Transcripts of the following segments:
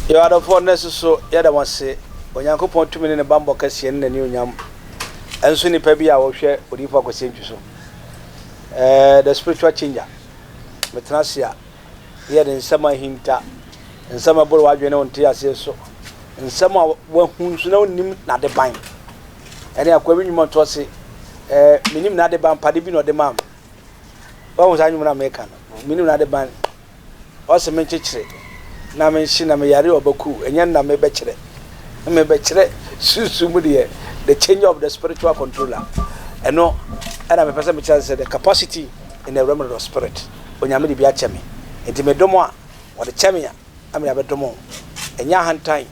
Yɛwɔ adɔfoɔ nnɛ so so yɛda mo ase Onyankopɔn tumi ne ne bammɔ kɛseɛ ne n'anionyam nso nipa bi a ɔhwɛ Odiyifoɔ Akwasi Antwi so eh, the spiritual changer Metena ase a yɛ de nsɛm a ahinta nsɛm a ɛboro w'adwene ne wo nteaseɛ so nsɛm a wahu nso na wonim n'adeban ɛne akoa bi nnwuma nto ase eh, menim n'adeban pade bi na ɔde maa me wahu saa nnwuma no a meka no menim n'adeban Ɔse menkyekyere na menhye na meyare ɔbakuw ɛnyɛ nna mebɛkyerɛ mebɛkyerɛ sunsum mu deɛ the change of the spiritual controller ɛno ɛna mepɛ sɛ mekyerɛ sɛ the capacity in the realm of the spirit onyame de bi akyɛ me nti medom a wɔde kyɛ me a na mede abɛdom ɛnyɛ ahantan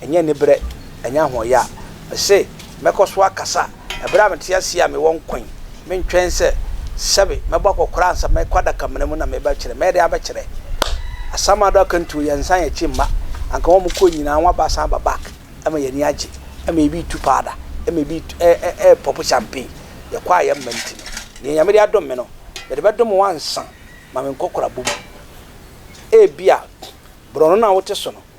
Ɛnyɛ aniberɛ, ɛnyɛ ahoɔyɛ a mese mɛkɔ so akasa ɛberɛ a mete aseɛ a mewɔ nkwa yi. Mentwɛn sɛ sɛbe mɛbɔ akɔkora ansa mɛkɔ adakamena mu na mebɛkyerɛ. Mɛde abɛkyerɛ. Asamado akantuo yɛn nsan yɛn akyi mma. Anka wɔn a wɔkɔɔ nyinaa wɔn aba asan aba back ɛma yɛn ani agye. Ɛma yɛbi retu powder, ɛma yɛbi repɔpo champagne. Yɛkɔ a yɛmma nti no, deɛ Nyame de adom me no, mede bɛdom wo ansa ma me nkɔkorabɔ mu. Ebia borɔno no a wote so no,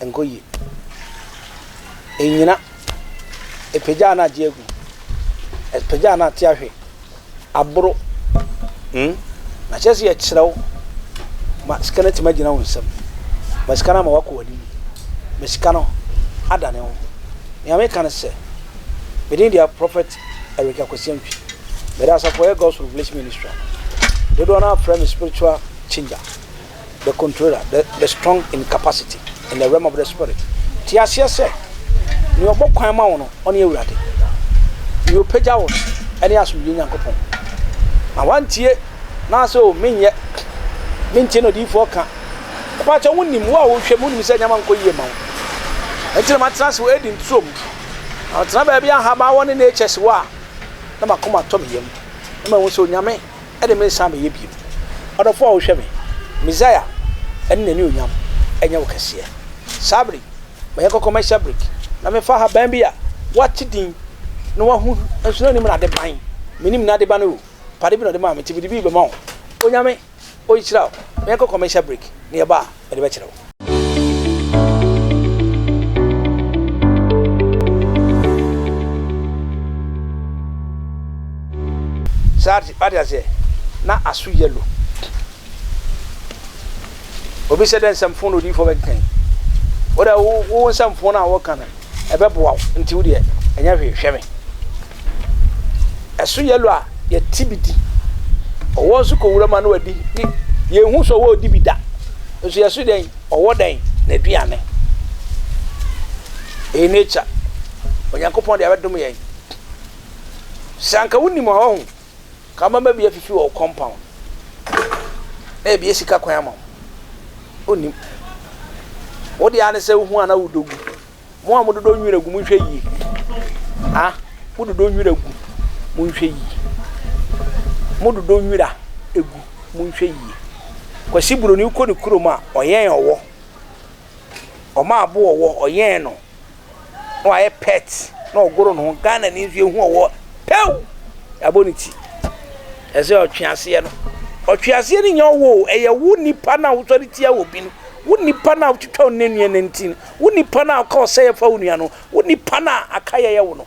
Ɛnkɔ yie. Ɛnnyina. Ɛpagya a na agye agu. Ɛpagya a na ate ahwe. Aboro. Hmm? Na kyerɛ sɛ yɛkyerɛ wo ma sika no atumi agyina wo nsam. Ma sika no ama woakɔ w'anim. Ma sika no adane wo. Nea meka ne sɛ, me din deɛ Prophet Eric Akwasi Antwi. Meda asafo a ɛyɛ God's Revelation Ministry a dodoɔ no ara frɛ me spiritual changer. the controller, the the strong in capacity, in the realm of the spirit. Te aseɛ sɛ, nea ɔbɔ kwan ma wo no, ɔne Awurade. Nea ɔpagya wo no, ɛne asomdwoe Nyankopɔn. Na wantie, na sɛ o menyɛ, mentie na odiyifoɔ ka. Ɛpaa kyɛ, wonim, wo a wohwɛ mu, wonim sɛ nneɛma nkɔ yie ma wo. Ɛnti na matena ase wɔ Eden turo mu. Na matena baabi a nhaban wɔ ne natures wɔ a, na makoma tɔ me yam. Na mahu sɛ Onyame ɛde me nsa abɛyɛ bio. Ɔdɔfoɔ a wohwɛ me, Messiah, ɛne n'anuonyam nyɛ wo kɛseɛ. Saa bere yi, mɛyɛ kɔkɔ mɛhyɛ brik, na mefa haban bi a wɔate din na wɔahu nso na anim na ade ban. Menim na ade ba no o, pade bi na ɔde maa me nti mede bi rebɛma wo. Onyame, Ɔnhyira wo. Mɛyɛ kɔkɔ mɛhyɛ brik, na ɛba a. mede bɛkyerɛ wo. Sɛ wate aseɛ, na aso yellow. Obi sɛ dɛ nsɛmfo na odiyifoɔ bɛkenkan yi. Wo dɛ wo wo nsɛmfo no a wɔka no ɛbɛboa wo nti wo deɛ ɛnyɛ hwee hwɛ me ɛso yellow a yɛte bi di ɔwɔ nso kɔ wura mu a na wadi ne yɛn hu so ɔwɔ ɔdi bi da nso yɛ so dɛn ɔwɔ dɛn na aduane ɛyɛ nature onyankopɔn deɛ abɛdom yɛn sɛ anka wonim a ɔho Ka mama bi afifi wɔ wo compound na ebi asi ka kwan ama wo. Wonnim. Wo deɛ ara ne sɛ wohu a na wodɔ gu. Mo a mododɔ nwira gu, monhwɛ yie. Ha, mododɔ nwira gu, monhwɛ yie. Mododɔ nwira gu, monhwɛ yie. Kwasi Buroni kɔ ne kurom a, ɔyɛn ɔwɔ. Ɔma abo ɔwɔ, ɔyɛn no. na wayɛ pɛt na ɔgoro ne ho Ghana ni nso yɛhu ɔwɔ pɛw yɛabɔ ne ti ɛsɛ ɔtweaseɛ no ɔtweaseɛ no nyɛ ɔwɔ ɛyɛ wo nipa no a wosɔre tia wɔ bi no wo nipa no a wotwitwa wo nanua no nti no wo nipa no a woka ɔsɛeɛ fa wo nua no wo nipa no a aka yɛyɛ wo no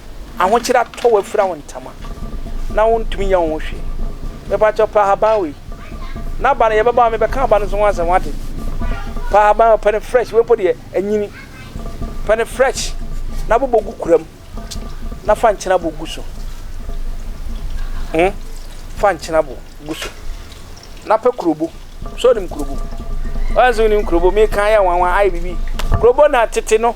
Ahokyere atɔ wo afira wo ntama na wontumi nyɛ wo ho hwee. Mepa kyɛw pɛ ahaban wei. N'aba no yɛbɛba a mebɛka aba no nso ho asɛm wate. Pɛ ahaban wei, pɛ no fresh, wei mpo deɛ anyini. Pɛ no fresh na bobɔ gu kura mu na fa nkyenabo gu so. Hmm? Fa nkyenabo gu so. Na pɛ kurobo. So nim kurobo? Ɔyɛ nso nim kurobo. Meka ayɛ nwanwa ayɛ bibi. Kurobo na tete no.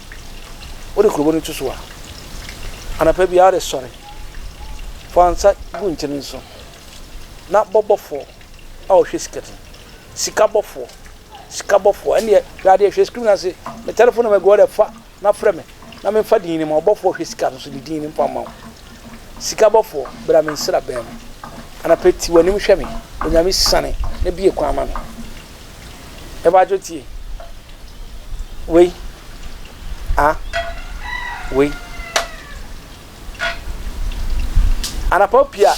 Wode kurobo no to so a, anapa biara wode sɔre. Fa nsa gu nkyene no so, na bɔ bɔfoɔ a ɔhwɛ sika ti. Sika bɔfoɔ, sika bɔfoɔ, ɛnneɛ hwɛ adeɛ, hwɛ screen no ase, me telephone number gu hɔ dɛ, fa na frɛ me na memfa din no ma wo. Bɔfoɔ a ɔhwɛ sika no so de din no mfa mma wo. Sika bɔfoɔ, bra me nsraban mu. Anapa ti w'anim hwɛ me, Onyame siane na bue kwan ma me. Ebadwo tie. Wei. A. Wei. Anapa opie a,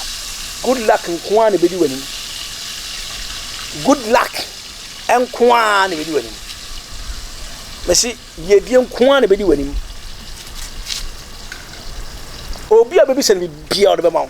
good luck nko ara na ebedi w'anim. Good luck nko ara na ebedi w'anim. Mesi yiedie nko ara na ebedi w'anim. Obi a bebisa no bibia ɔde bɛma wo.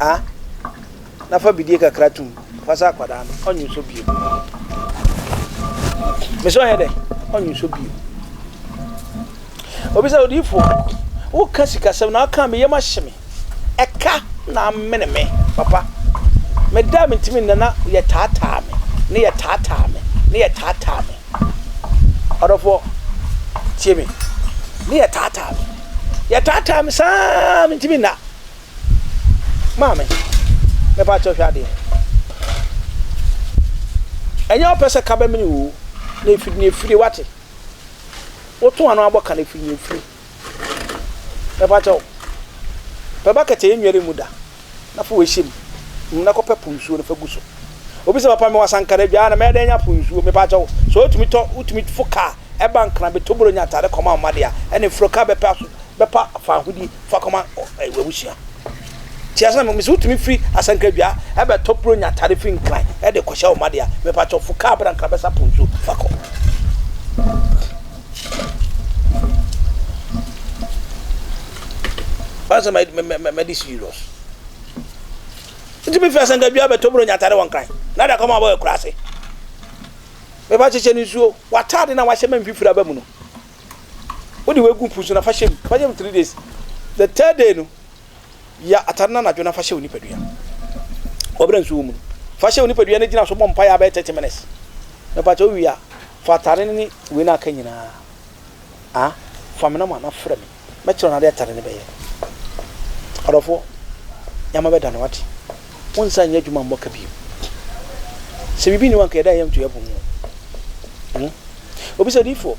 a na fa bidie kakra tom fa sɛ akwadaa no ɔnwonsɔ bio me sɛ ɔyɛ dɛ ɔnwonsɔ bio obi sɛ odiifoɔ woka sikasɛm na aka me yam ahye me ɛka na amene me papa meda mentimi nna na yɛtaataa me ne yɛtaataa me ne yɛtaataa me Ɔdɔfoɔ, tie me. Ne yɛtaataa me. Yɛtaataa me saa mentumi nna. Maame, mepa kyɛ hwɛ adeɛ. Ɛnyɛ ɔpɛ sɛ ka bɛmene woo. Na efiri na efiri wate. Woto ano abɔ ka na efiri na efiri. Mepa kyɛw, pɛ bucket a yɛnnwɛre mu da na fa wei hyɛ mu na kɔpɛ po nsuo no fa gu so. Obi sɛ, Papa, mewɔ Asankare dwaa na mɛyɛ dɛn anya po nsuo? Mepa kyɛw, sɛ wotumi tɔ, wotumi fo kaa ɛba Nkran, bɛtɔ buro nya ataade kɔma wo mma deɛ a, ɛne foro kaa bɛpɛ aso, bɛpa fa ahodie fa kɔma w'abusua. Te aseɛ? Na mese wotumi firi Asankare dwaa ɛbɛtɔ buro nya ataade firi Nkran ɛde kɔhyɛ wo mma deɛ a, mepa kyɛw, fo kaa bra Nkran bɛsa po nsuo fa kɔ. Why so mad mad mad this serious? Nti mi fi asangadua bɛ toburo nya atare wɔ nkran. Na da kɔma ɔbɔ ekura ase. Mɛ ba kyekyɛ ne nsuo. Wataade na wahyɛ mɛ mfifiri aba mu no. Wode wegu mpu so na fa hyɛ mu. Fa hyɛ mu three days. The third day no ya atare na nadwo na fa hyɛ wo nipadua. Wɔbrɛ nsuo wɔ mu no. Fa hyɛ wo nipadua na gyina so bɔ mpaeɛ abɛyɛ thirty minutes. Mɛ ba kyekyɛ owie a. Fa atade no ne wei no a aka nyinaa a fa me nɔma na frɛ me. Mɛkyerɛ wo n'ade atade no bɛyɛ. Ɔdɔfoɔ, yɛama bɛda no wate. Wonsan nyɛ adwuma mmɔ ka bio. Sɛ biribi nni hɔ a anka yɛda yɛn to yɛn bo mu o. Obi sɛ, Odiyifoɔ,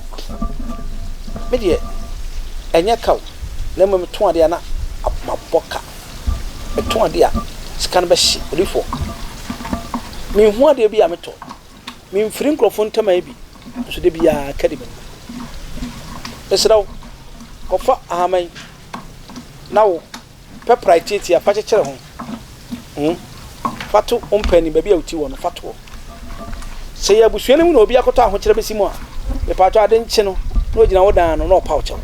me deɛ ɛnyɛ ka o, na mmom metɔn adeɛ a na mabɔ ka. Metɔn adeɛ a sika no bɛhye. Odiyifoɔ, menhunu adeɛ bi a metɔ. Memfiri nkurɔfoɔ ntam ayɛ bi, nso da biara ka di m'anim. Mesrɛ wo, kɔfa ahama yi na wo pɛ prae tiatia fa kyekyere ho. Hmm? Fa to wo mpɛ anim, baabi a woti wɔ no, fa toɔ. Sɛ yɛ abusua no mu na obi akɔtɔ ahokyerɛ bɛsi mu a, mepaatɔ ade nkye no na ogyina wo dan ano na ɔpa wo kyɛw.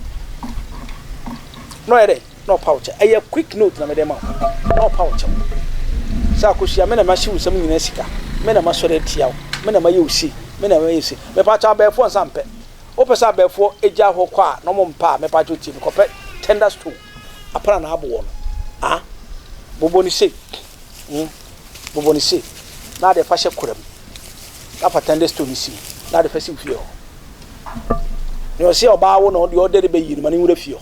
Na ɔyɛ dɛn? na ɔpa wo kyɛw. Ɛyɛ quick note na mede rema wo, na ɔpa wo kyɛw. Sɛ akosua, me na mahye wo nsɛm nyinaa sika, me na masɔre atia wo, me na mayɛ wo sei, me na mayɛ wo sei. Mepaakyɛ abɛɛfoɔ nsa mpɛ. Wopɛ sɛ abɛɛfoɔ gya hɔ kɔ a na wɔn mpɛ a, mepaakyɛ tie me, kɔpɛ tender stone, apana na aboɔ no. Ah, bobɔ no sei, mm, bobɔ no sei, na ade fa hyɛ kora mu, na fa tender stone no si mu, na ade fa si wo fie hɔ. Nea ɔse ɔbaa wo na ɔde ɔde de bɛyi no ma ne nwura fie hɔ.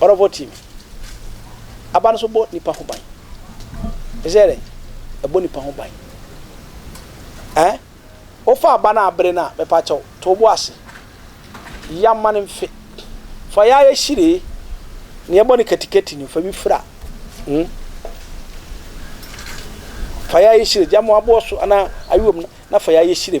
Ɔrɔbɔ team. Aba no so bɔ nipa ho ban. Ɛsɛ dɛ ɛbɔ nipa ho ban. Ɛɛ wofa aba no a bere no a mɛpa kyɛw to bo ase. Ya ma no mfe. Fa ya yɛ hyiree. Nea ɛbɔ no katikati no fa bi fira. Hmm. Fa ya yɛ hyire. Gya mo aboɔ so anaa ayewam na fa ya yɛ hyire.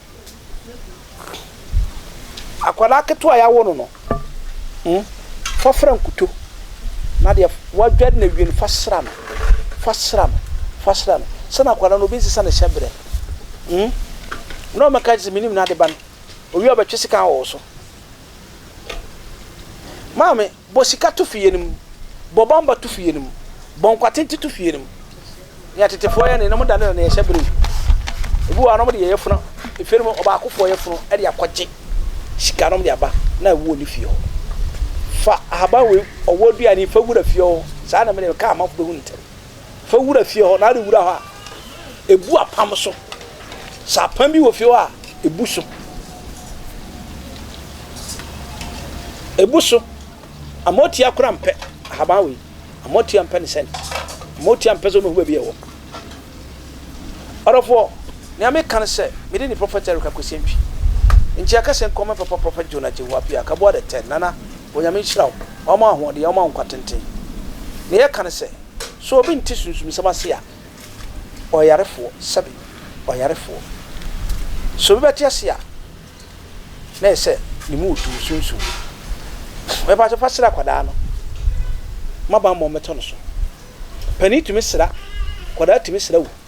Akwadaa ketewa a yɛawo no no, mm, fa fra nkuto, na deɛ wadware no awie no, fa sra no. Fa sra no. Fa sra no. Sɛ na akwadaa no, obi nsesa ne hyɛ berɛ, mm, na ɔmmɛka nkyerɛ sɛ, Mennim n'ade ba no. Ɔwie a, ɔbɛtwe sekan wɔ wo so. Maame. Bɔ sika to fie no mu. Bɔ bɔmba to fie no mu. Bɔ nkwatente to fie no mu. Nea tetefoɔ yɛ ne, na wɔda no na na yɛhyɛ bere mu. Ebi wɔ hɔ a, na wɔde yɛn yafunu, efie no mu ɔbaakofoɔ yafunu de akɔgye sika na wɔde aba, na ɛwɔ ne fie hɔ. Fa ahaban wei, ɔwɔ aduane yi, fa wura fie hɔ. Saa na me deɛ, mekaa amanfoɔ bɛhu no ntɛm. Fa wura fie hɔ, na ade wura hɔ a, ebu apam so. Sɛ apam bi wɔ fie hɔ a, ebu so. Ebu so. Ama otia kora mpɛ ahaban wei. Ama otia mpɛ ne sɛn. Ama otia mpɛ sɛ ɔno hu baabi a ɛwɔ. Ɔdɔfoɔ, nea meka ne sɛ, mede ne Prophet Eric Akwesi Antwi. Nti yɛka sɛ nkɔmmɔ mfa Prophet John Agyewu Appiah, Kaboa the Third, Nana, Onyame nhyira wo, ɔmma wo ahoɔden, ɔmma wo nkwa tenten. Nea yɛka ne sɛ. So obi nte sunsumsɛm ase a ɔyarefoɔ, sɛbe ɔyarefoɔ? So obi bɛte ase a na ɛyɛ sɛ ne mu retu, sunsum mu? Mepakyɛ fa sra akwadaa no ma bammɔ mmɛtɔ no so. Panin tumi sra, akwadaa tumi sra o.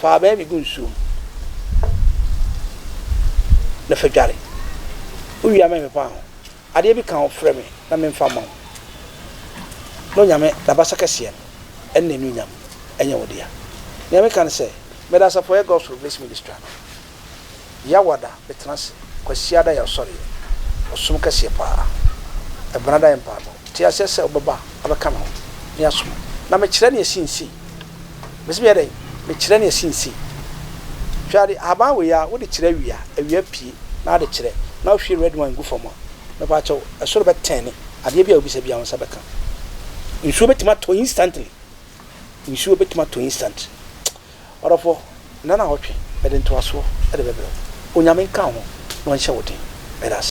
Fa abaa bi gu nsuo mu na fa dware. Wowie a mempepa ho. Adeɛ bi ka wo frɛ me na memfa mma wo. N'Onyame, N'abasa kɛseɛ no, ɛne N'anuonyam nyɛ wo dea. Nea meka ne sɛ, meda Asafo a ɛyɛ Gospel Bliss Ministra no. Yawada bɛtena ase. Kwasiada yɛ ɔsɔreɛ. Ɔsom kɛseɛ pa ara. Ɛbenada yɛ mpaebɔ. Te aseɛ sɛ wobɛba abɛka me ho ne asom. Na mekyerɛ ne asi nsei. Mese meyɛ dɛn? Mekyerɛ ne asi nsei. Hwɛ ade, ahaban wei ara, wode kyerɛ awia, awia pie na ade kyerɛ, na wohwie red wine gu fam a, mepaakyɛw, ɛsoro bɛtɛɛne. Adeɛ biara a wobisa biara, wo nsa bɛka. Nsuo bɛtumi atɔ instantly. Nsuo bɛtumi atɔ instantly. Ɔdɔfoɔ, nna no a ɔtwe, mede ntoasoɔ de bɛbrɛ wo. Onyame nka wo ho na ɔnhyɛ wo den. Meda ase.